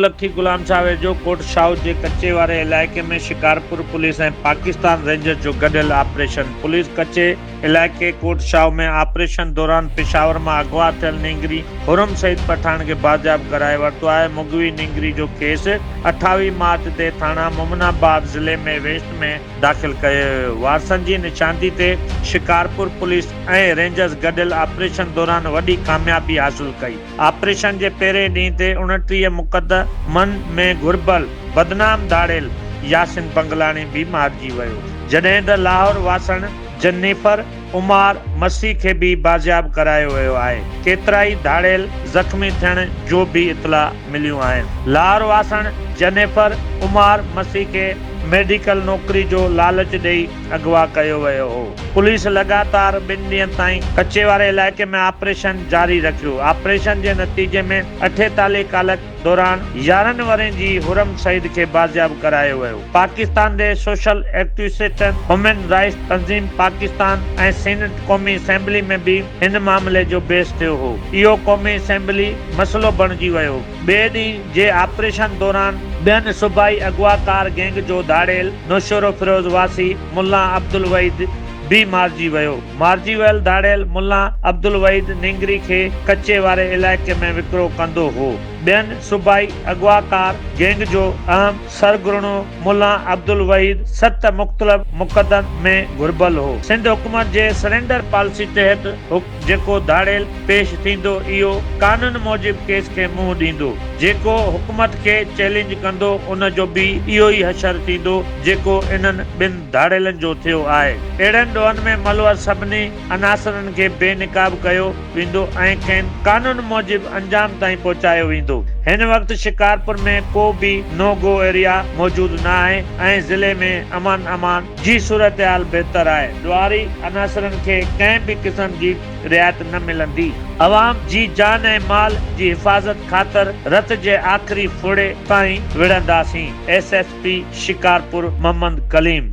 لکي غلام شاهه ويجهو ڪوٽ شاهه جي ڪچي واري علائقي ۾ شڪارپور پوليس ۽ پاڪستان رينجرز جو گڏيل آپريشن پوليس ڪچي علائقي ڪوٽ شاهه ۾ آپريشن دوران پشاور مان اغوا ٿيل نينگري حرم سعيد پٺاڻ کي بازياب ڪرائي ورتو آهي مغوي نينگري جو ڪيس اٺاويهه مارچ تي ٿاڻا مومن آباد ضلعي مي ويسٽ ۾ داخل ڪيو ويو وارثن جي نشاندهي تي شڪارپور پوليس ۽ رينجرز گڏيل آپريشن دوران وڏي ڪاميابي حاصل ڪئي. آپريشن جي پهرين ڏينهن تي اڻٽيهه مقد من ۾ گهربل بدنام ڌاڙيل ياسين بنگلاڻي به مارجي ويو جڏهن ته لاهور واسڻ جنيفر عمار مسيح کي به بازياب ڪرايو ويو آهي ڪيترائي ڌاڙيل زخمي ٿيڻ جو به اطلاع مليون آهن لاهور واسڻ جنيفر عمار مسيح کي ميڊيڪل نوڪري جو لالچ ڏئي اغوا ڪيو ويو هو. پوليس لڳاتار ٻن ڏينهن تائين ڪچي واري علائقي ۾ آپريشن جاري رکيو. آپريشن جي نتيجي ۾ اٺي تالي ڪالڪ دوران يارهن ورهين جي حرم سعيد کي بازياب ڪرايو ويو. پاڪستان دي سوشل ايڪٽوسٽن، هيومن رائٽس تنظيم پاڪستان ۽ سينيٽ قومي اسيمبلي ۾ به هن معاملي جو بحث ٿيو هو. اهو قومي اسيمبلي مسئلو بڻجي ويو. ٻئي ڏينهن. جي آپريشن دوران ٻين صوبائي اغواڪار گينگ جو ڌاڙيل نوشهروفيروز واسي ملا عبدالوحيد به مارجي ويو. مارجي ويل ڌاڙيل ملا عبدالوحيد نينگري کي ڪچي واري علائقي ۾ وڪرو ڪندو هو. ٻين صوبائي اغواڪار گينگ جو اهم سرغرڻو ملا عبدالوحيد ست مختلف مقدمن ۾ گهربل هو. سنڌ حڪومت جي سرينڊر پالسي تحت حڪ. جيڪو ڌاڙيل پيش ٿيندو اهو قانون موجب ڪيس کي منهن ڏيندو، جيڪو حڪومت کي چئلينج ڪندو ان جو به اهو ئي حشر ٿيندو جيڪو انهن ٻن ڌاڙيلن جو ٿيو آهي. اهڙن ڏوهن ۾ ملوث سڀني عناصرن کي بي نقاب ڪيو ويندو ۽ کين قانون موجب انجام تائين پهچايو ويندو. هن وقت شڪارپور ۾ ڪو به نو گو ايريا موجود نه آهي ۽ ضلعي ۾ امن امان جي صورتحال بهتر آهي، ڏوهاري عناصرن کي ڪنهن به قسم جي رعايت نه ملندي، عوام جي جان ۽ مال جي حفاظت خاطر رت جي آخري ڦڙي تائين وڙهنداسين، S S P Shikarpur Muhammad Kaleem.